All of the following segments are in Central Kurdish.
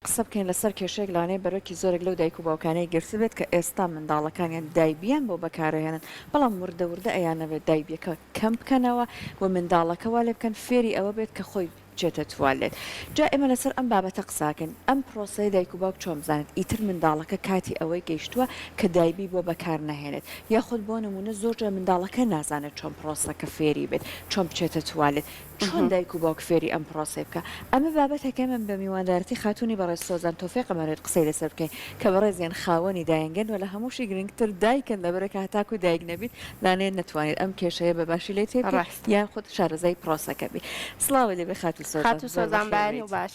قسە بکەین لەسەر کێشەیەک لەوانەیە بەرۆکی زۆرێک لەو دایک و باوکانەی گرتبێت کە ئێستا منداڵەکانیان دایبیان بۆ بەکارئەهێنن بەڵام وردە وردە ئەیانەوێت دایبیەکە کەم بکەنەوە و منداڵەکە وا لێبکەن فێری ئەوە بێت کە خۆی بچێتە توالێت جا ئێمە لەسەر ئەم بابەتە قساکەین ئەم پرۆسەیە دایک و باوک چۆن بزانێت ئیتر منداڵەکە کاتی ئەوەی گەیشتوە کە دایبی بۆ بەکارنەهێنێت یاخود بۆ نمونە زۆرجار منداڵەکە نازانێت چۆن پرۆسەکە فێری بێت چۆن بچێتە توالێت چۆن دایک و باوک فێری ئەم پرۆسەی بکا؟ ئەمە بابەتێکە من بە میواندارەتی خاتوونی بەڕێز سۆزان تۆفیق ئەمەوێت قسەی لەسەر بکەین کە بەڕێزیان خاوەنی دایەنگەن و لە هەمووشی گرنگتر دایکن لەبەرئەکە هەتاکوو دایک نەبیت لانەیە نەتوانیت ئەم کێشەیە بە باشی لێ تێ بگەی یان خۆت شارەزای پرۆسەکە بی. سڵاوت لێ بێ خاتوو سۆزان. خاتوو سۆزان بەیانی و باش.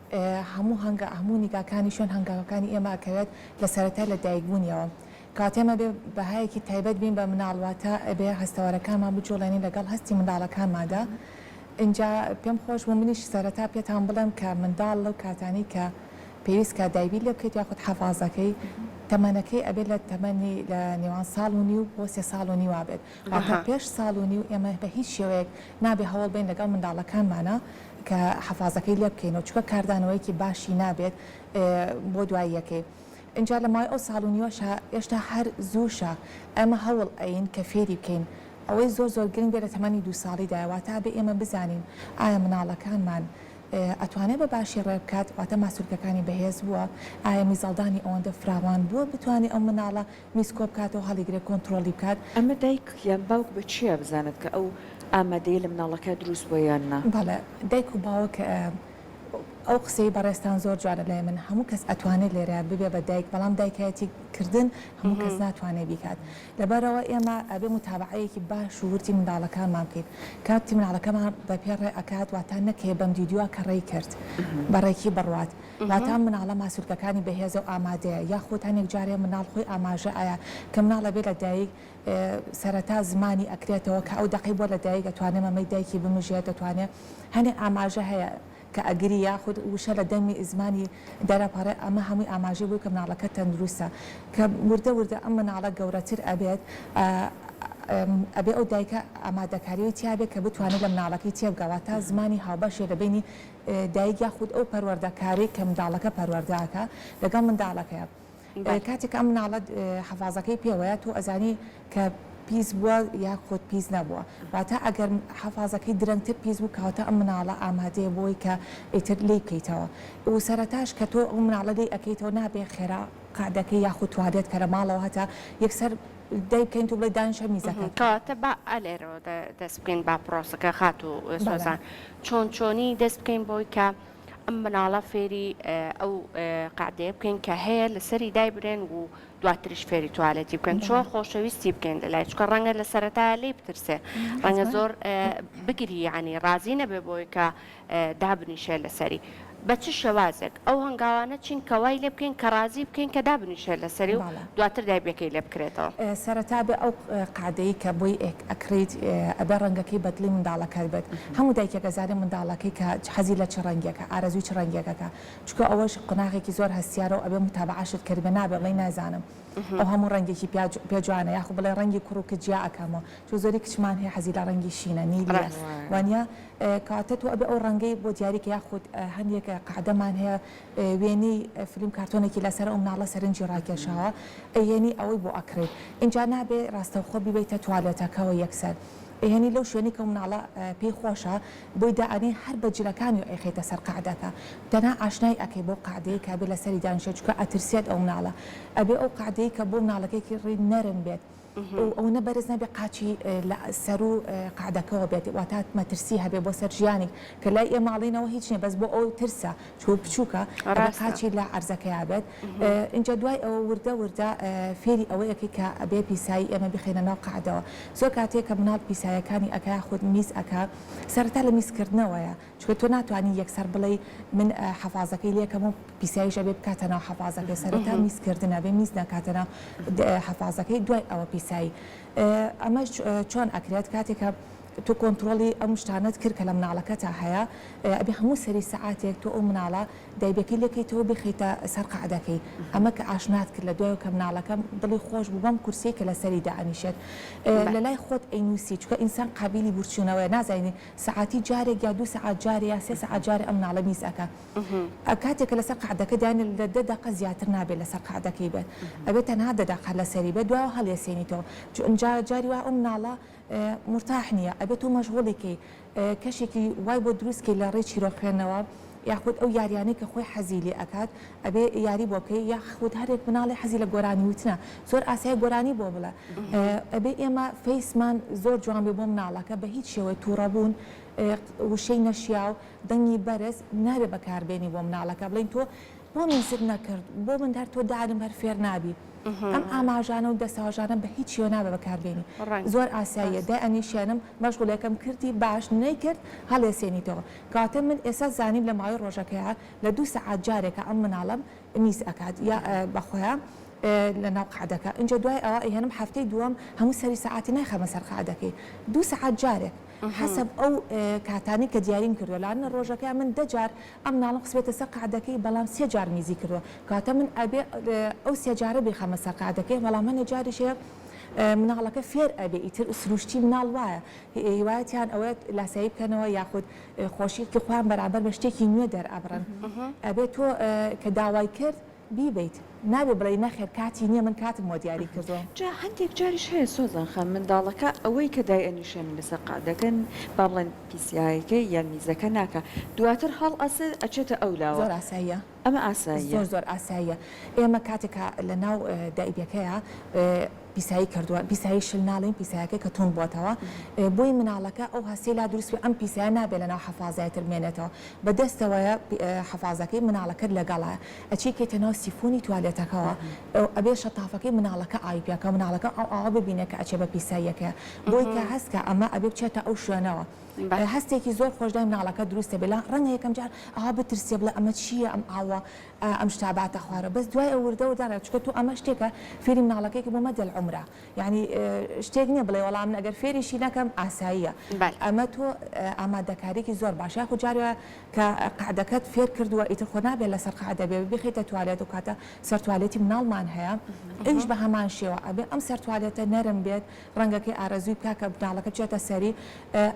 هەموو هەنگا هەموو نیگاکانی شوێن هەنگاوەکانی ئێمە ئەکەوێت لە سەرەتای لە دایک بوونیەوە کەواتە ئێمە ئەبێ بەهایەکی تایبەت بین بە مناڵ واتە ئەبێ هەستەوەرەکانمان بجوڵێنین لەگەڵ هەستی منداڵەکانماندا ئینجا پێم خۆش بوو منیش سەرەتا پێتان بڵێم کە منداڵ لەو کاتانەی کە پێویست کە دایبی لێ بکەیت یاخود حەفازەکەی تەمەنەکەی ئەبێ لە تەمەنی لە نێوان ساڵ و نیو بۆ سێ ساڵ و نیوا بێت واتە پێش ساڵ و نیو ئێمە بە هیچ شێوەیەک نابێ هەوڵ بەین لەگەڵ منداڵەکانمانە کە حەفازەکەی لێ بکەینەوە چونکە کاردانەوەیەکی باشی نابێت بۆ دواییەکەی ئینجا لە ماوەی ئەو ساڵ و نیوەشا ئێشتا هەر زووشە ئێمە هەوڵ ئەیین کە فێری بکەین ئەوەی زۆر زۆر گرنگ بێت لە تەمەنی دوو ساڵیدایە واتە ئەبێ ئێمە بزانین ئایا مناڵەکانمان ئەتوانێ بە باشی ڕێ بکات واتە ماسولکەکانی بەهێز بووە ئایا میزەڵدانی ئەوەندە فراوان بووە بتوانێ ئەو مناڵە میز کۆبکاتەوە هەڵیگرێت کۆنترۆڵی بکات. ئەمە دایک یان باوک بە چیا بزانێت کە ئەو ئامادەیە لە مناڵەکە دروست بووە یان نا؟ بەڵێ دایک و باوک ئەو قسەی بەڕێزتان زۆر جوانە لای من هەموو کەس ئەتوانێت لێرە ببێ بە دایک بەڵام دایکایەتی کردن هەموو کەس ناتوانێت بیکات لەبەرئەوە ئێمە ئەبێ موتابەعەیەکی باش و وردی منداڵەکانمان بکەین کاتی مناڵەکەمان بە پێ ڕێ ئەکات واتا نەکەی بەم دیدوە کە ڕێی کرد بە ڕێکی بڕوات واتا مناڵە ماسولکەکانی بەهێزە و ئامادەیە یاخود هەنێک جارێ مناڵ خۆی ئاماژە ئەیا کە مناڵ ئەبێ لە دایک سەرەتا زمانی ئەکرێتەوە کە ئەو دەقەی بۆ لە دایک ئەتوانێ مەمەی دایکی بمژێ دەتوانێ هەنێ ئاماژە هەیە کە ئەگری یاخود وشە لە دەمی زمانی دەرەپەڕێ ئەمە هەمووی ئاماژەی بۆی کە مناڵەکە تەندروستە کە وردە وردە ئەم مناڵە گەورەتر ئەبێت ئەبێ ئەو دایکە ئامادەکاریی تیابێ کە بتوانێت لە مناڵەکەی تێبگا واتا زمانی هاوبەشێ لە بینی دایک یاخود ئەو پەروەردەکارەی کە منداڵەکە پەروەردە ئەکا لەگەڵ منداڵەکەیە کاتێک کە ئەم مناڵە حەفازەکەی پێوەیە تۆ ئەزانی کە پیس بووە یاخود پیس نەبووە واتە ئەگەر حەفازەکەی درەنگتر پیس بوو کەواتە ئەم مناڵە ئامادەیە بۆی کە ئیتر لی بکەیتەوە و سەرەتاش کە تۆ ئەو مناڵە لی ئەکەیتەوە نابێ خێرا قەعدەکەی یاخود توالێت کە لە ماڵەوە هەتا یەکسەر دای بکەین تۆ بڵێ دانیشە میزەکەت. کەواتە با ئەلێرەوە دەست بکەین با پرۆسەکە خاتوو سۆزان. چۆن چۆنی دەست بکەین بۆی کە ئەم مناڵە فێری ئەو قعدەیە بکەین کە هەیە لەسەری دایبرێن و دواتریش فێری توالێتی بکەن چۆن خۆشەویستی بکەین لە لای چکە ڕەنگە لە سەرەتا لی بترسێ ڕەنگە زۆر بگری ینی ڕازی نەبێ بۆی کە دابنیشێ لەسەری بە چ شێوازێک ئەو هەنگاوانە چین کە وای لێ بکەین کە ڕازی بکەین کە دابنیشێت لەسەری و بەڵێ. دواتر دایبەکەی لێ بکرێتەوە؟ سەرەتا بێ ئەو قادەی کە بۆی ئەکڕیت ئەبێ ڕەنگەکەی بە دڵی منداڵەکەت بێت هەموو دایکێک ئەزانێ منداڵەکەی کە حەزی لە چ ڕەنگێکە ئارەزووی چ ڕەنگێکەکە چونکە ئەوەش قۆناغێکی زۆر هەستیارە و ئەبێ موتابەعەشت کردبێ نابێ بڵێی نازانم ئەو هەموو ڕەنگێکی پیا پێ جوانە یاخو بڵێ ڕەنگی کوڕ و کچ جیا ئەکەمەوە چۆ زۆری کچمان هەیە حەزی لە ڕەنگی شینە نیلیە ڕەهوایە. وانیە؟ کەواتە تۆ ئەبێ ئەو ڕەنگەی بۆ دیاری کە یاخود هەندێک قەعدەمان هەیە وێنەی فلیم کارتۆنێکی لەسەرە ئەو مناڵە سەرنجی ڕاکێشاوە ئەیهێنی ئەوەی بۆ ئەکڕی ئینجا نابێ ڕاستەوخۆ بیبەیتە توالێتەکەوە یەکسەر ئەیهێنی لەو شوێنەی کە ئەو مناڵە پێی خۆشە بۆی دائەنێی هەر بە جلەکانیەوە ئەیخەیتە سەر قەعدەکە تەنها ئاشنای ئەکەی بەو قەعدەیەی کە ئەبێ لەسەری دانیشێت چونکە ئەترسێت ئەو مناڵە ئەبێ ئەو قەعدەیەی کە بۆ مناڵەکەی کڕی نەرم بێت و ئەوەنە بەرز نەبێ قاچی لە سەرو قەعدەکەوە بێت واتە مەترسی هەبێ بۆ سەر ژیانیک کە لای ئێمە ئەڵینەوە هیچ نیە بەس بۆ ئەو ترسە چوو بچوکە ئەبێ قاچی لە عەرزەکەیا بێت ئینجا دوای ئەوە وردە وردە فێری ئەوە ئەکەی کە ئەبێ پیسایی ئێمە بیخەینە ناو قەعدەوە زۆر کاتێ کە مناڵ پیسایەکانی ئەکا یاخود میز ئەکا سەرەتا لە میزکردنەوەیە چونکە تۆ ناتوانی یەکسەر بڵێی من حەفازەکەی لێکەم و پیسایش ئەبێ بکاتە ناو حەفازەکەی سەرەتا میز کردن ئەبێ میز نەکاتە ناو حەفازەکەی دوای ئەوە پیسایی ئەمەش چۆن ئەکرێت کاتێکە تۆ کۆنتترۆڵی ئەم شتانت کرد کە لە مناڵەکە تا هەیە ئەبێ هەموو سەری سەعاتێک تۆ ئەو مناڵە دایبەکەی لەکەیتەوە بخیتە سەر قعدەکەی ئەمە کە ئاشنات کرد لە دوای کە مناڵەکە دڵی خۆش بوو بەم کورسی کە لەسەری دائنیشێت لەلای خۆت ئەینوسی چکە ئینسان قابلی بورچوونەوەی نازانین سەعاتی جارێک یا دوو سەعات جارێ یا سێ سەعات جارێ ئەم مناڵە میز ئەکا کاتێک کە لەسەر قەعدەکە دانێ لە دە دەقە زیاتر نابێ لەسەر قەعدەکەی بێت ئەبێ تەنها دە دەقە لەسەری بێت دواوە هەڵیەسێنیتەوە چ ئنجا جاری وا ئەو مناڵە مورتاح نیە ئەبێ تۆ مەشغوڵی کەی کەشێکی وای بۆ دروست کەی لە ڕێی چیرۆک خوێندنەوە یاخود ئەو یاریانەی کە خۆی حەزی لێ ئەکات ئەبێ یاری بۆ بکەی یاخود هەرێک مناڵێ حەزی لە گۆرانی وتنە زۆر ئاسایە گۆرانی بۆ بڵێ ئەبێ ئێمە فەیسمان زۆر جوان بێ بۆ مناڵەکە بە هیچ شێوەیە توڕەبوون وشەی نەشیاو دەنگی بەرز نابێ بەکار بێنی بۆ مناڵەکە بڵین تۆ بۆ میزت نەکرد بۆ من هەر تۆ دانم هەر فێر نابی ئەم ئاماژانە و دەساژانە بە هیچ شێوە نابێ بەکار بێنی زۆر ئاساییە دای ئەنیشێنم مەشغولەکەم کردی باش نەیکرد هەڵێسێنیتەوە کاتێ من ئێسا زانیم لە ماوەی ڕۆژەکەیا لە دوو سەعات جارێکە ئەم مناڵەم میز ئەکات یا بەخۆیا لە ناو قەعدەکە ئینجا دوای ئەوە ئەیهێنم هەفتەی دووەم هەموو سەری سەعاتی نایخەمە سەر قەعدەکەی دوو سەعات جارێک حەسەب ئەو کاتانی کە دیاریم کردووە لانە ڕۆژەکەیا من دە جار ئەم مناڵم خسبێتە سەر قەعدەکەی بەڵام سێ جار میزی کردووە کاتە من ئەبێ ئەو سێ جارە بیخەمە سەر قەعدەکەی بەڵام هەنێ جاریش هەیە مناڵەکە فێر ئەبێ ئیتر سروشتی مناڵ وایە هیوایەتیان ئەوەیە لاسایی بکەنەوە یاخود خۆشیەکی خۆیان بەرامبەر بە شتێکی نوێ دەرئەبڕن ئەبێت تۆ کە داوای کرد بیبیت نابێ بڵێ نەخێر کاتی نییە من کاتم بۆ دیاری کردووە جا هەندێک جاریش هەیە سۆزان خان منداڵەکە ئەوەی کە دای ئەنیشێنی لەسەر قەعدەکە با بڵێن پیسایەکەی یان میزەکە ناکا دواتر هەڵئەسێ ئەچێتە ئەو لاوە. زۆر ئاساییە. ئەمە ئاساییە؟ زۆر زۆر ئاساییە ئێمە کاتێک کە لە ناو دایبەکەیە پیسایی کردووە پیسایی شل ناڵین پیسایەکەی کە توند بووەتەوە بۆی مناڵەکە ئەو هەستی لا دروست ئەم پیسایە نابێت لە ناو حەفازای تر بمێنێتەوە بە دەستەوەیە حەفازەکەی مناڵەکەت لەگەڵە ئەچی کەیتە ناو سیفۆنی توالێتەکەوە ئەبێ شەتافەکەی مناڵەکە ئاوی پێکە مناڵەکە ئەو ئاوە ببینێت کە ئەچێ بە پیساییەکەیە بۆی کە هەستکە ئەمە ئەبێ بچێتە ئەو شوێنەوە هەستێکی زۆر خۆش دای مناڵەکەت دروستە بێ لا ڕەنگە یەکەم جار ئاوا بترسێ بڵێ ئەمە چییە ئەم ئاوە ئەم شتە باتە خوارەوە بەس دوای ئەو وردە وردە ڕێ چکە تۆ ئەمە شتێکە فێری مناڵەکەی کە بۆ مەدە العمرە یانی شتێک نییە بڵێ وەڵا من ئەگەر فێریشی نەکەم ئاساییە ئەمە تۆ ئامادەکاریکی زۆر باش یاخو جاری وایە کە قەعدەکەت فێر کردووە ئیتر خۆ نابێ لەسەر قەعدە بێ بخیتە توالێت و کاتە سەر توالێتی مناڵمان هەیە ئەویش بە هەمان شێوە ئەبێ ئەم سەر توالێتە نەرم بێت ڕەنگە کەی ئارەزووی کاکە بناڵەکە بچێتە سەری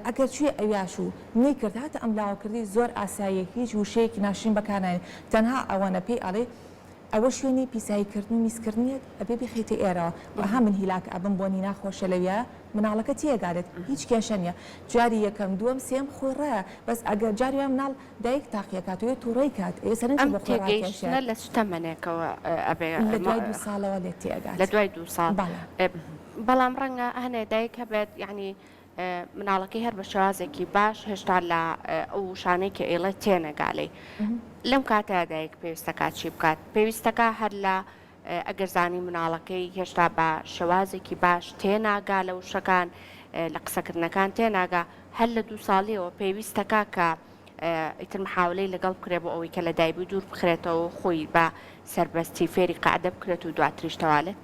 ئەگەر چوویە ئەویاش و نەیکرد هاتە ئەم لاوە کردی زۆر ئاساییە هیچ وشەیەکی ناشرین بەکارناێنی تەنها ئەوەنە پێی ئەڵێی ئەوە شوێنی پیسایی کردن و میز کردنیت ئەبێ بیخەیتە ئێرەوە و ئەها من هیلاک ئەبم بۆنی ناخۆشە لەویا مناڵەکە تێیەگادێت هیچ کێشە نیە جاری یەکەم دووەم سێم خۆی ڕایە بەس ئەگەر جاری وای مناڵ دایک تاقیەکات وێ توڕەی کات ئەوێ سەرنجی بۆ خۆی ڕاکێشێت. ئەم تێگەیشتنە لە سوتەمەنێکەوە ئەبێ. لە دوای دوو ساڵەوە لێت تێئەگات. لە دوای دوو ساڵ. بەڵێ. بەڵام ڕەنگە هەنێ دایک هەبێت یەعنی مناڵەکەی هەر بە شێوازێکی باش هێشتا لە ئەو وشانەی کە ئەیڵێت تێنەگا لێی. لەم کاتەیا دایک پێویستەکا چی بکات؟ پێویستەکا هەر لە ئەگەر زانی مناڵەکەی هێشتا بە شێوازێکی باش تێناگا لە وشەکان، لە قسەکردنەکان تێناگا، هەر لە دوو ساڵییەوە پێویستەکا کە ئیتر محاولەی لەگەڵ بکرێ بۆ ئەوەی کە لە دایبوی دوور بخرێتەوە و خۆی بە سەربەستی فێری قەعدە بکرێت و دواتریش تەوالێت؟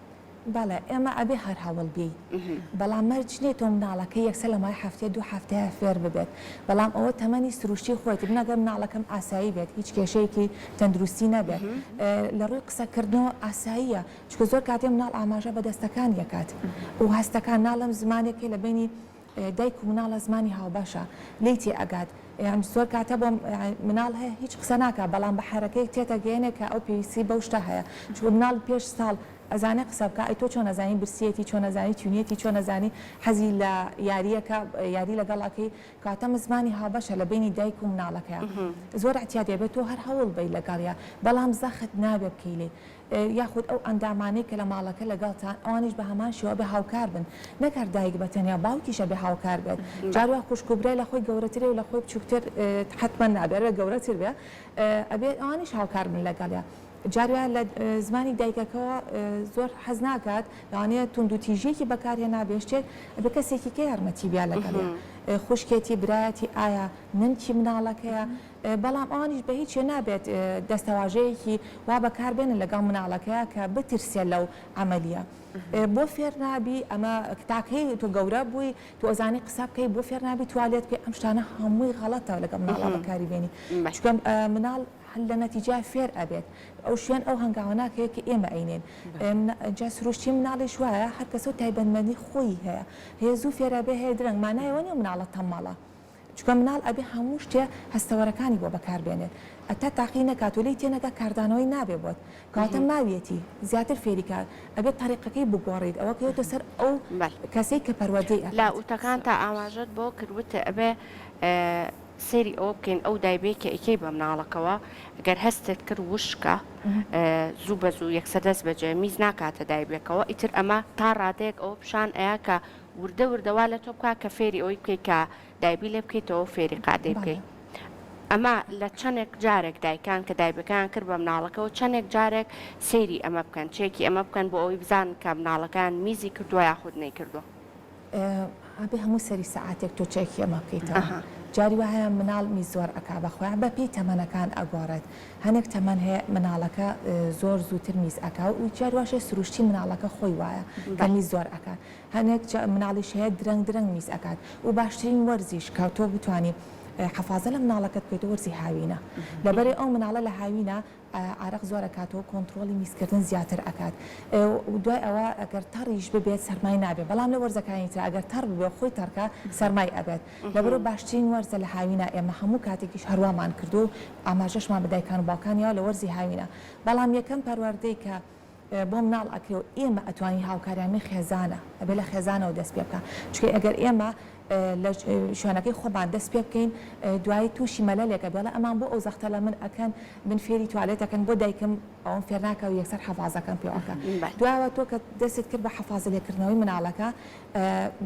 بەڵێ، ئێمە ئەبێ هەر هەوڵ بێی، بەڵام مەرج نییە تۆ مناڵەکەی یەکسەر لە ماوەی هەفتەیە دوو هەفتەیە فێر ببێت، بەڵام ئەوە تەمەنی سروشتی خۆیەتی من ئەگەر مناڵەکەم ئاسایی بێت هیچ کێشەیەکی تەندروستی نەبێت لە ڕووی قسەکردنەوە ئاساییە چکە زۆر کاتێ مناڵ ئاماژە بە دەستەکان یەکات و هەستەکان ناڵم زمانێکی لە بینی دایک و مناڵە زمانی هاوبەشە لی تێ ئەگات یان زۆر کاتە بۆ مناڵ هەیە هیچ قسە ناکە بەڵام بە حرەکەی تێتەگەێنێ کە ئەو پێویستی بەو شتە هەیە چوە مناڵ پێش ساڵ ئەزانێ قسە بکا ئەی تۆ چۆن ئەزانی برسیەتی چۆن ئەزانی تینویەتی چۆن ئەزانی حەزی لە یاریەکە یاری لەگەڵ ئەکەی کەواتە من زمانی هاوبەشە لە بەینی دایک و مناڵەکەیا زۆر اعتیادیە بێ تۆ هەر هەوڵ بەی لەگەڵیا بەڵام زەخت نابێ بکەی لێی یاخود ئەو ئەندامانەی کە لە ماڵەکە لەگەڵتە ئەوانیش بە هەمان شێوە ئەبێ هاوکار بن نەک هەر دایک بە تەنیا باوکیش ئەبێ هاوکار بێت جار وا خوشک و برای لە خۆی گەورەترێ و لە خۆی بچووکتر حەتمەن نابێ ئەبێ گەورەتر بێ ئەبێ ئەوانیش هاوکار بن لەگەڵیا جارێ لە زمانی دایکەکەوە زۆر حەز ناکات لەوانەیە توندوتیژیەکی بەکارهێنابێ شتێک ئەبێ کەسێکی کە یارمەتی بیا لەگەڵێ خوشکێتی برایەتی ئایا نمکی مناڵەکەیە بەڵام ئەوانیش بە هیچێ نابێت دەستەواژەیەکی وا بەکاربێنن لەگەڵ مناڵەکەیە کە بترسێ لەو عملیە بۆ فێر نابی ئەمە تاکەی تۆ گەورە بووی تۆ ئەزانی قسە بکەی بۆ فێر نابی توالێت بکەی ئەم شتانە هەمووی غەڵەتە لەگەڵ مناڵە بەکاری بێنی چکەم مناڵ هەر لە نەتیجە فێر ئەبێت ئەو شوێن ئەو هەنگاوە ناکەوێت کە ئێمە ئەینێن جا سروشتی مناڵیش وایە هەر کەسە و تایبەتمەندی خۆیی هەیە هەیە زوو فێر ئەبێ هەیە درەنگ مانای ئەوە نیە مناڵە تەمەڵە چونکە مناڵ ئەبێ هەموو شتێ هەستەوەرەکانی بۆ بەکار بێنێت ئەتا تاقی نەکات و لێی تێ نەگا کاردانەوەی نابێ بۆت کەواتە ماویەتی زیاتر فێری کا ئەبێ تەریقەکەی بگۆڕیت ئەوە کەوێتە سەر ئەو کەسەی کە پەروەردەی ئەکات. لە وتەکانتا ئاماژەت بۆ کرد وتت ئەبێ سەیری ئەوە بکەین ئەو دایبەی کە ئیکەی بە مناڵەکەوە گەر هەستت کرد وشکە زوو بە زوو یەکسەر دەست بەجێ میز ناکاتە دایبێکەوە ئیتر ئەمە تا ڕادەیەک ئەوە پیشان ئەیا کە وردە وردە وا لە تۆ بکا کە فێری ئەوەی بکەیت کە دایبی لێ بکەیتەوە فێری قادەی بکەیت ئەمە لە چەندێک جارێک دایکان کە دایبەکان کرد بە مناڵەکەەوە چەندێک جارێک سەیری ئەمە بکەن چێکی ئەمە بکەن بۆ ئەوەی بزان کە مناڵەکان میزی کردووە یاخود نەیکردووە. ئەبێ هەموو سەری سەعاتێک تۆ چێکی ئەمە بکەیتەوە جاری وا هەیە مناڵ میز زۆر ئەکا بە خۆیان بە پێی تەمەنەکان ئەگۆڕێت هەنێک تەمەن هەیە مناڵەکە زۆر زووتر میز ئەکا و جاری واش هەیە سروشتی مناڵەکە خۆی وایە کە میز زۆر ئەکا هەنێک مناڵیش هەیە درەنگ درەنگ میز ئەکات و باشترین وەرزیش کە تۆ بتوانی حەفازە لە مناڵەکەت بکەیت وەرزی هاوینە لەبەرئ ئەو مناڵە لە هاوینە عارەق زۆر ئەکات و کۆنتڕۆڵی میزکردن زیاتر ئەکات و دوای ئەوە ئەگەر تەڕیش ببێت سەرمای نابێت بەڵام لە وەرزەکانی ترا ئەگەر تەڕ ببێ و خۆی تەڕکا سەرمای ئەبێت لەبەرو باشترین وەرزە لە هاوینا ئێمە هەموو کاتێکیش هەروامان کردووە و ئاماژەشمان بە دایکان و باوکانیەوە لە وەرزی هاوینا بەڵام یەکەم پەروەردەی کە بۆ مناڵ ئەکرێ و ئێمە ئەتوانین هاوکاریان من خێزانە ئەبێ لە خێزانەوە دەست پێ بکا چونکە ئەگەر ئێمە لە شوێنەکەی خۆمان دەست پێ بکەین دوایی تووشی مەلەلێکە بێڵێ ئەمان بۆ ئەو زەختە لە من ئەکەن من فێری توالێتەکەن بۆ دایکم ئەوم فێرناکە و یەکسەر حەفازەکەم پێوەکە دوایەوە تۆ کە دەستت کرد بە حەفازە لێکردنەوەی مناڵەکە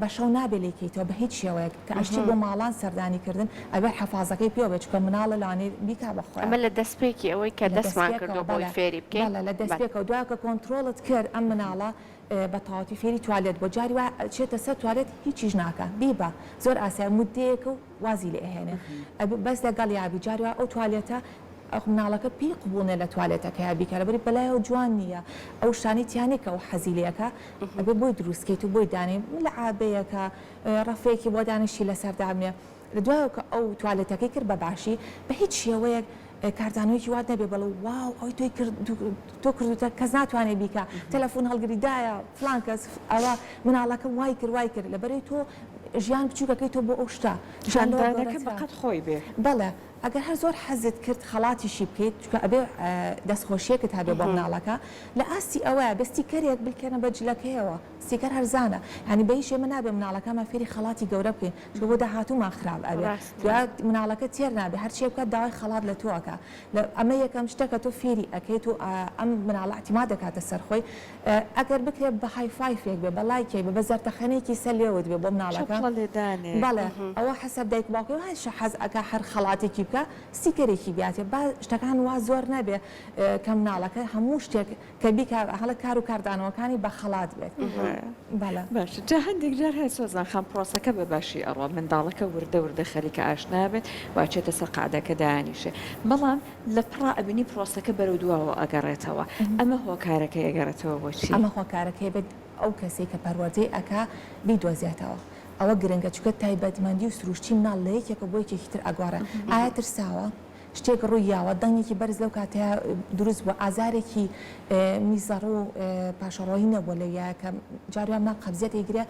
بە شەو نابێ لێی کەیتەوە بە هیچ شێوەیەک کە ئەشتی بۆ ماڵان سەردانی کردن ئەبێ حەفازەکەی پێوە بێ چونکە مناڵە لەوانەیە بیکا بە خۆیان. ئەمە لە دەست پێکی ئەوەی کە دەستمان کردوە بۆی فێری بکەین. بەڵێ لە دەست پێکەوە دوای کە کۆنتڕۆڵت کرد ئەم مناڵە بە تەواوەتی فێری توالێت بوە جاری وا ئەچێتە سەر توالێت هیچیش ناکا بیبە زۆر ئاسایە مودەیەکە و وازی لێ ئەهێنێ ئەبێ بەس لەگەڵیا بی جاری وا ئەو توالێتە ئەخ مناڵەکە پێی قبوڵ نیە لە توالێتەکەیا بیکا لەبەری بەلایەوە جوان نیە ئەو شتانەی تیا نیە کە ئەو حەزی لێ ئەکا ئەبێ بۆی دروست کەیت و بۆی دانێ ملعابەیەکە ڕەفێکی بۆ دانێ شی لەسەر دابنێ لە دوایەوە کە ئەو توالێتەکەی کرد بە باشی بە هیچ شێوەیەک کاردانەوەیەکی وات نەبێ بەڵێ واو ئەوەی تۆی کرد تۆ کردوتە کەس ناتوانێ بیکا تەلەفون هەڵگری دایە فلان کەس ئەوە مناڵەکەم وای کرد وای کرد لەبەرەی تۆ ژیان بچووکەکەی تۆ بۆ ئەو شتە کاردانەکە بەقەد خۆی بێ بەڵێ ئەگەر هەر زۆر حەزت کرد خەڵاتیشی بکەیت چونکە ئەبێ دەستخۆشیەکت هەبێ بۆ مناڵەکە لە ئاستی ئەوەیە بە ستیکەرێک بلکێنە بە جلەکەیەوە. سیکەر هەرزانە یانی بە هیچ ئێمە نابێ مناڵەکانمان فێری خەڵاتی گەورە بکەین چونکە بۆ داهاتوومان خراپ ئەبێ جا مناڵەکە تێر نابێ هەرچیە بکات داوای خەڵات لە تۆ ئەکا ئەمە یەکەم شتە کە تۆ فێری ئەکەیت و ئەم مناڵە ئەتیمات دەکاتە سەر خۆی ئەگەر بکرێ بە های فایفێک بێ بە لایکێک بێ بە زەرتەخەنەیەکی سەر لێوت بێ بۆ مناڵەکە چەپڵە لێدانێک بەڵێ ئەوە حەسەب دایک و باوکەکە هەر چی حەز ئەکا هەر خەڵاتێکی بکا سیکەرێکی بیاتێ با شتەکان وا زۆر نەبێ کە مناڵەکە هەموو شتێک کە بیکات هەڵە کار و کاردانەوەکانی بە خەڵات بێت باشە جا هەندێک جار هەیە سۆزان خان پرۆسەکە بە باشی ئەڕۆ منداڵەکە وردە وردە خەریکە ئاشنا بێت واچێتە سەر قعدەکە دانیشێ بەڵام لە پڕا ئەبینی پرۆسەکە بەرەو دواوە ئەگەڕێتەوە ئەمە هۆکارەکە ئەگەڕێتەوە بۆچی ئەمە هۆکارەکەی بێت ئەو کەسێک کە پەروەردەی ئەکا بیدۆزێتەوە ئەوە گرنگە چکە تایبەتمەندی و سروشتی مناڵ لە یەکێکە بۆ یەکێکی تر ئەگۆڕێ ئایا ترساوە؟ شتێک ڕووی یاوە، دەنگێکی بەرز لەو کاتەیا دروست بووە، ئازارێکی میزەڕ و پاشەڕۆیی نەبووە لەو یایە کە جار جار مناڵ قەبزیەت ئەیگرێ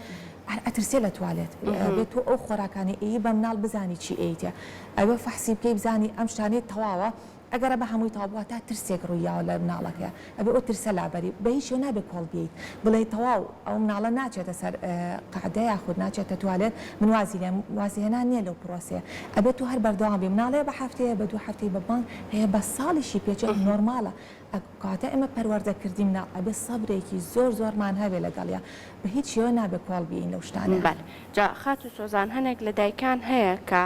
هەر ئەترسێ لە توالێت بێ تۆ ئەو خۆراکانەی ئەیی بە مناڵ بزانی چی ئەیتێ ئەوێ فەحسی بکەی بزانی ئەم شتانەی تەواوە ئەگەرە بە هەمووی تەواو بوو واتا ترسێک ڕووی یاوە لە مناڵەکەیا. ئەبێ ئەو ترسە لابەری و بە هیچ شێوە نابێ کۆڵ بێیت بڵێی تەواو ئەو مناڵە ناچێتە سەر قەعدە یاخود ناچێتە توالێت من وازی لێم وازی هێنان نیە لەو پرۆسەیە ئەبێ تۆ هەر بەردەوام بی مناڵێ بە هەفتەیە بە دوو هەفتەی بە مانگ هەیە بە ساڵیشی پێ چێت نۆرماڵە ئەک کاتە ئێمە پەروەردە کردی مناڵ ئەبێ سەبرێکی زۆر زۆرمان هەبێ لەگەڵیا بە هیچ شێوە نابێ کۆڵ بێین لەو شتانەیا. بەل جا خاتو سۆزان هەنێک لە دایکان هەیە کە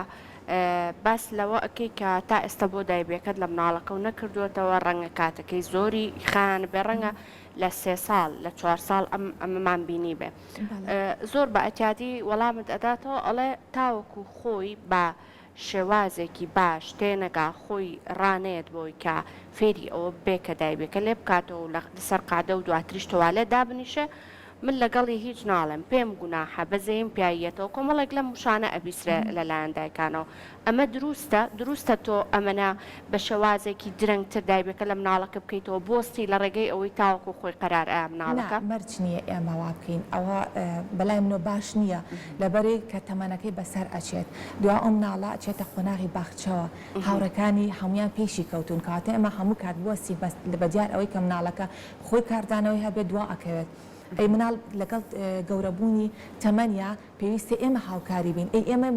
باس لەوە ئەکەی کە تا ئێستا بۆ دایبێکەت لە مناڵەکەو نەکردۆتەوە ڕەنگە کاتەکەی زۆری خایانبێ ڕەنگە لە سێ ساڵ لە چوار ساڵ ئەم ئەمەمان بینیبێ زۆر بە ئەتیادی وەڵامت ئەداتەوە ئەڵێ تاوەکو خۆی بە شێوازێکی باش تێنەگا خۆی ڕانەیەت بۆی کە فێری ئەوە بێ کە دایبێکە لێ بکاتەوە لە سەر قادە و دواتریش تۆوالێت دابنیشێ من لەگەڵی هیچ ناڵێم پێم گوناحە بە زەیم پیاییەتەوە کۆمەڵێک لەم وشانە ئەبیسرێ لە لایەن دایکانەوە ئەمە دروستە دروستە تۆ ئەمەنە بە شێوازێکی درەنگ تر دایبەکە لە مناڵەکە بکەیتەوە بۆستی لە ڕێگەی ئەوەی تاوەکو خۆی قەرار ئەیا نا مناڵەکە. مەرج نیە ئێمە وا بکەین ئەوە بەلای منەوە باش نیە لەبەرئ کە تەمەنەکەی بەسەر ئەچێت دوا ئەو مناڵە ئەچێتە قۆناغی باخچەوە هاوڕێکانی هەموویان پێشی کەوتوون کەواتە ئێمە هەموو کات بوەستین بەس بە دیار ئەوەی کە مناڵەکە خۆی کاردانەوەی هەبێت دوا ئەکەوێت ئەی مناڵ لەگەڵ گەورە بوونی تەمەنیا پێویستە ئێمە هاوکاری بین ئەی ئێمە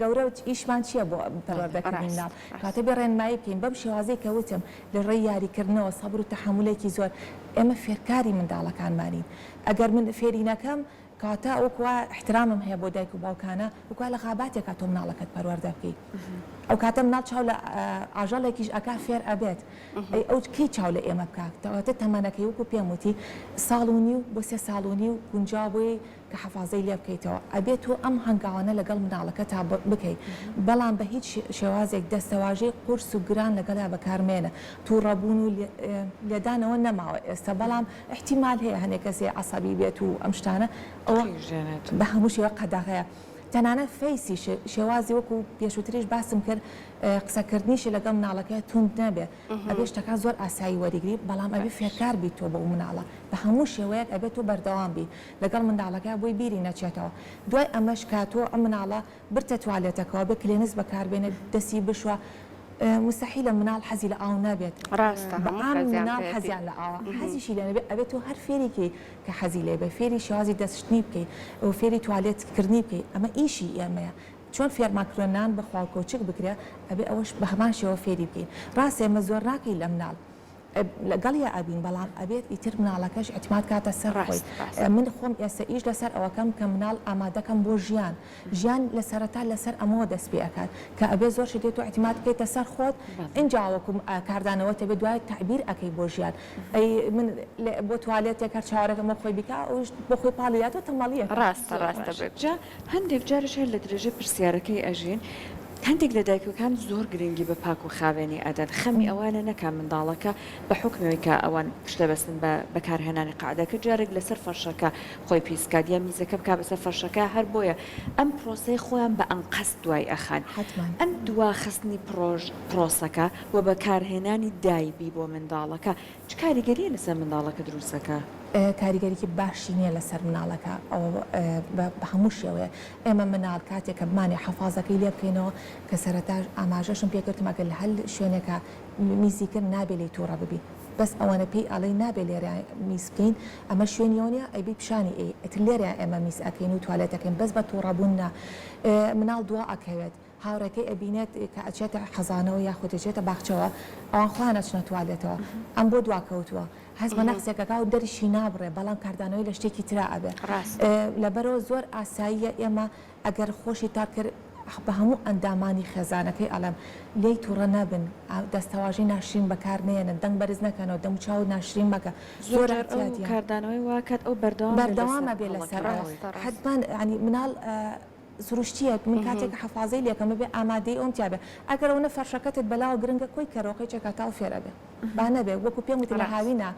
گەورە ئیشمان چییە بۆ پەروەردەکردنی مناڵ کاتە بێ ڕێنمایی بکەین بەم شێوازەی کە وتم لە ڕێی یاریکردنەوە سەبر و تەحەمولێکی زۆر ئێمە فێرکاری منداڵەکانمانین ئەگەر من فێری نەکەم کاتا وەک وا احترامم هەیە بۆ دایک و باوکانە وەک وا لە غاباتێکا تۆ مناڵەکەت پەروەردە بکەی ئەو کاتە مناڵ چاو لە ئاژەڵێکیش ئەکا فێر ئەبێت ئەی ئەو کەی چاو لە ئێمە بکا کەواتە تەمەنەکەی وەکو پێم وتی ساڵ و نیو بۆ سێ ساڵ و نیو گونجاو بۆی کە حەفازەی لێ بکەیتەوە ئەبێ تۆ ئەم هەنگاوانە لەگەڵ مناڵەکەتا بکەی بەڵام بە هیچ شێوازێک دەستەواژەی قورس و گران لەگەڵیا بەکار مەیەنە توڕەبوون و لێدانەوە نەماوە ئێستا بەڵام ئیحتیمال هەیە هەنێ کەسێ عەسەبی بێت و ئەم شتانە ئەوە بە هەموو شێوە قەدەغەیە تەنانەت فەیسیش شێوازی وەکو پێشوتریش باسم کرد قسەکردنیشی لەگەڵ مناڵەکەی توند نەبێ ئەبێ شتەکان زۆر ئاسایی وەریگری بەڵام ئەبێ فێرکار بیت تۆ بۆ ئەو مناڵە بە هەموو شێوەیەک ئەبێت تۆ بەردەوام بی لەگەڵ منداڵەکە بۆی بیری نەچێتەوە دوای ئەمەش کە تۆ ئەم مناڵە برتە توالێتەکەوە بێ کلێنس بەکاربێنێ دەسی بشوە مستحیلە مناڵ حەزی لە ئاو نەبێت ڕاستە بە هەموو عام خەزیان مناڵ پێتی حەزیان لە ئاوە حەزیشی لێ نەبێ ئەبێ تۆ هەر فێری کەی کە حەزی لێ بێ فێری شێوازی دەست شتنی بکەی و فێری توالێت کردنی بکەی ئەمە ئیشی ئێمەیە چۆن فێرمان کردوە نان بخوا و کەوچک بگرە ئەبێ ئەوەش بە هەمان شێوە فێری بکەین ڕاستە ئێمە زۆر ناکەی لە مناڵ لەگەڵیا ئەبین بەڵام ئەبێت ئیتر مناڵەکەش ئیتماد کاتە سەر خۆی من خۆم ئێستا ئیش لەسەر ئەوەکەم کە مناڵ ئامادەکەم بۆ ژیان ژیان لە سەرەتا لەسەر ئەمەوە دەست پێ ئەکات کە ئەبێت زۆر شت تۆ ئیتماد بکەیتە سەر خۆت ئینجا وەکو کاردانەوە تەبێت دوای تەعبیر ئەکەی بۆ ژیان ئەی من بۆ توالێتێک هەر چاوەرێکەم بۆ خۆی بیکا ئەویش بۆ خۆی پاڵی داتەوە تەمەڵیەکە. ڕاستە ڕاستە بەجدی. هەندێک جاریش هەر لە درێژەی پرسیارەکەی ئەژین، هەندێک لە دایکەکان زۆر گرنگی بە پاک و خاوێنی ئەدەن، خەمی ئەوانە نەکا منداڵەکە بە حوکمی ئەوەی کە ئەوان پشت دەبەستن بە بەکارهێنانی قەعدەکە جارێک لەسەر فەرشەکە خۆی پیس بکات یا میزەکە بکات بەسەر فەرشەکە، هەر بۆیە ئەم پرۆسەیە خۆیان بە ئەنقەست دوای ئەخەن. حەتمەن. ئەم دواخستنی پرۆسەکە و بەکارهێنانی دایبی بۆ منداڵەکە، چ کاریگەرییە لەسەر منداڵەکە دروست دەکا؟ کاریگەریی باشی نییە لەسەر منداڵەکە ئەوە بە هەموو شێوەیەک. ئێمە منداڵ کاتێک کە بمانەوێت حەفازەکەی لێ بکەینەوە کە سەرەتا ئاماژەشم پێ کردم ئەگەر لە هەر شوێنێکا میزی کرد نابێ لێی تووڕە ببین بەس ئەوەنە پێی ئەڵێین نابێ لێرە میز بکەین ئەمە شوێنی ئەو نییە ئەیبەی پیشانی ئەی ئیتر لێرە ئێمە میز ئەکەین و توالێت ئەکەین بەس بە تووڕە بوون نا مناڵ دوا ئەکەوێت هاوڕێکەی ئەبینێت کە ئەچێتە حەزانەوە یاخود ئەچێتە باخچەوە ئەوان خۆیان ئەچنە توالێتەوە ئەم بۆ دواکەوتووە هەست بە نەقسێک ئەکا و دەریشی نابڕێ بەڵام کاردانەوەی لە شتێکی ترا ئەبێ لەبەرەوە زۆر ئاساییە ئێمە ئەگەر خۆشی تاک کرد بە هەموو ئەندامانی خێزانەکەی ئەڵێم لێی توڕە نەبن دەستەواژەی ناشرین بەکار نێنن دەنگ بەرز نەکەنەوە دەموچاو ناشرین مەکە زۆر کاردانەوەی واکات ئەو بەردەوام بەردەوامە بێ لەسەر حەتمان ینی مناڵ سروشتیەک من کاتێک کە حەفازەی لێکەم ببێ ئامادەی ئەوم تیا بێ ئەگەر ئەونە فەرشەکەتت بەلاوە گرنگە کۆی کەرۆقەی چەکاتاو فێر ئەبێ با نەبێ وەکو پێم وتی لە هاوینە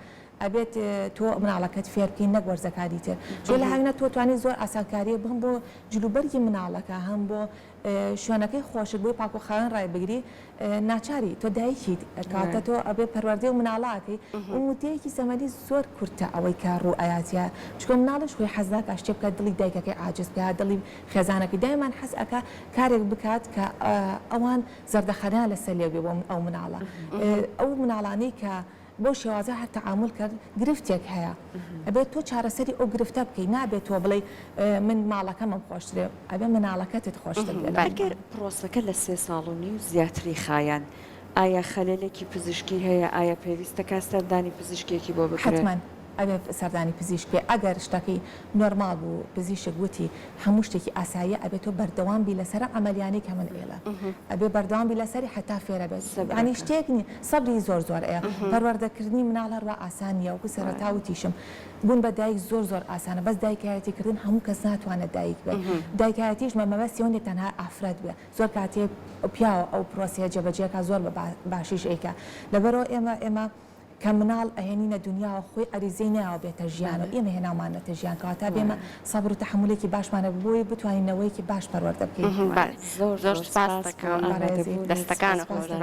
ئەبێت تۆ مناڵەکەت فێر بکەی نەک وەرزەکانی تر چۆ لە هاوینە تۆ توانی زۆر ئاسانکاریە بم بۆ جلوبەرگی مناڵەکە هەم بۆ شوێنەکەی خۆشک بۆی پاکوخاوێن ڕای بگری ناچاری تۆ دایکیت کاتە تۆ ئەبێ پەروەردەی و مناڵاکەی و مدەیەکی زەمەنی زۆر کورتە ئەوەی کە ڕوو ئەیاتە چکۆ مناڵیش خۆی حەزا کە شتێ بکات دڵی دایکەکەی عاجز بکە دڵی خێزانەکەی دایمان حەز ئەکا کارێک بکات کە ئەوان زەردەخەنە لەسەر لێ بێ بۆ ئەو مناڵە ئەو مناڵانەی کە بەو شێوازە هەر تەعامول کە گرفتێک هەیە ئەبێت تۆ چارەسەری ئەو گرفتە بکەیت نابێت تۆ بڵێی من ماڵەکەمم خۆشترێ ئەبێ مناڵەکەتت خۆشتر بێت. ئەگەر پڕۆسەکە لە سێ ساڵ و نیو زیاتری خایاند ئایا خەلەلێکی پزیشکی هەیە؟ ئایا پێویستە کات سەردانی پزیشکێکی بۆ بکرێت؟ حەتمەن. ئەوێ سەردانی پزیشک بێ ئەگەر شتەکی نۆرماڵ بوو پزیشک وتی هەموو شتێکی ئاساییە ئەبێ تۆ بەردەوام بی لەسەر عەمەلیانەی کە من ئێڵە ئەبێ بەردەوام بی لەسەری حەتا فێرە بێت یانی شتێک نی سەبری زۆر زۆر ئەیە پەروەردەکردنی مناڵ هەروا ئاسان نییە وەکو سەرەتا وتیشم بوون بە دایک زۆر زۆر ئاسانە بەس دایکایەتی کردن هەموو کەس ناتوانێت دایک بێت دایکایەتیش مە مەبەستی ئەوە نییە تەنها ئافرەت بێ زۆر کاتێک پیاوە ئەو پرۆسەیە جێبەجێ کا زۆر بە باشیش ئەیکا لەبەرەوە ئێمە ئێمە کە مناڵ ئەهێنینە دونیاوە خۆی عەریزەی نەیاوە بێتە ژیانەوە ئێمە هێناومانەتە ژیان کەواتە بێمە سەبر و تەحەمولێکی باشمان هەبێت بۆی بتوانین نەوەیەکی باش پەروەردە بکەین. بەس زۆر زۆر سپاست دەکەم دەستەکانت خۆش بێت.